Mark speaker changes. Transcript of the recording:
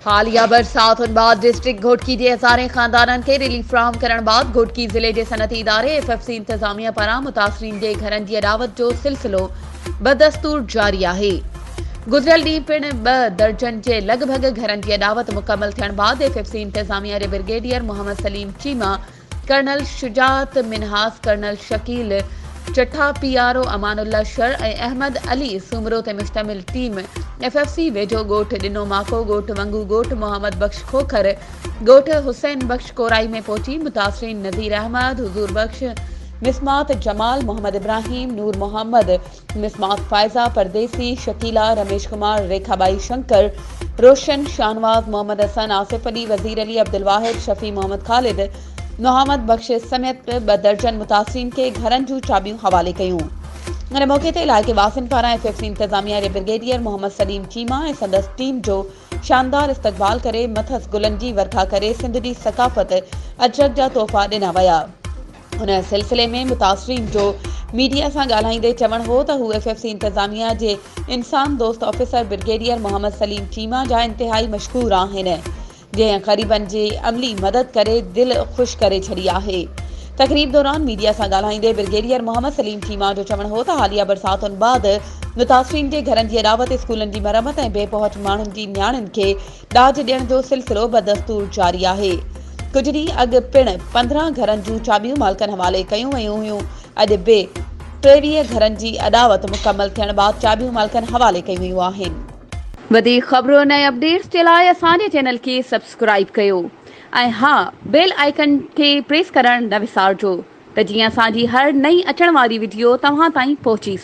Speaker 1: حاليه برساتن بعد ڊسٽرڪٽ گهوٽڪي جي هزارين خاندانن کي رليف فراهم ڪرڻ بعد گهوٽڪي ضلعي جي صنعتي اداري ايف ايف سي انتظاميه پاران متاثرين جي گهرن جي اڏاوت جو سلسلو بدستور جاري آهي گذريل ڏينهن پڻ ٻه درجن جي لڳ ڀڳ گهرن جي اڏاوت مڪمل ٿيڻ بعد ايف ايف سي انتظاميه جي brigadier Muhammad Saleem Cheema colonel Shujaat Minhas, colonel Shakeel Chattha, P R O Amanullah Shar ۽ Ahmed Ali Soomro تي مشتمل ٽيم ايف ايف سي ويجهو ڳوٺ ڏنو ماڪو، ڳوٺ ونگو، ڳوٺ محمد بخش کوکر، ڳوٺ حسين بخش ڪورائي ۾ پهچي متاثرين نذير احمد، حضور بخش، مصمات جمال، محمد ابراهيم، نور محمد، مصباح، فائزه پرديسي، شڪيلا، رميش ڪمار، ريکا ٻائي، شنڪر، روشن، شاهنواز، محمد حسن، آصف علي، وزير علي، عبدالواحد، شفيع محمد خالد، محمد بخش سميت ٻه درجن متاثرين کي گهرن جون چاٻيون حوالي ڪيون. ان موقعي تي علائقي واسين پاران ايف ايف سي انتظاميه جي برگيڊيئر محمد سليم چيما ۽ سندس ٽيم جو شاندار استقبال ڪري مٿس گلن جي ورکا ڪري سنڌ جي ثقافت اجرڪ جا تحفا ڏنا ويا. ان سلسلي ۾ متاثرين جو ميڊيا سان ڳالهائيندي چوڻ هو ته هو ايف ايف سي انتظاميا جي انسان دوست آفيسر برگيڊيئر محمد سليم چيما جا انتهائي مشڪور آهن جنهن غريبن جي عملي مدد ڪري دل خوش ڪري ڇڏي آهي تقريب دوران ميڊيا سان ڳالهائيندي برگيڊيئر محمد سليم چيما جو چوڻ هو ته حاليه برساتن بعد متاثرين جي گهرن جي اڏاوت اسڪولن جي مرمت ۽ بي پهچ ماڻهن جي نياڻين کي ڏاج ڏيڻ جو سلسلو بدستور جاري آهي، ڪجهه ڏينهن اڳ پڻ پندرهن گهرن جون چاٻيون مالڪن حوالي ڪيون ويون هيون، اڄ به ٽيويهه گهرن جي اڏاوت مڪمل ٿيڻ بعد چاٻيون مالڪن حوالي ڪيون ويون آهن. وڌيڪ خبرون ۽ اپڊيٽس جي لاء اسان جي چينل کي سبسڪرائيب ڪيو ۽ ها بيل آئيڪن کي پريس ڪرڻ نه وسارجو ته جيئن اسان جي هر نئين اچڻ واري وڊيو توهان تائين پهچي سگهي.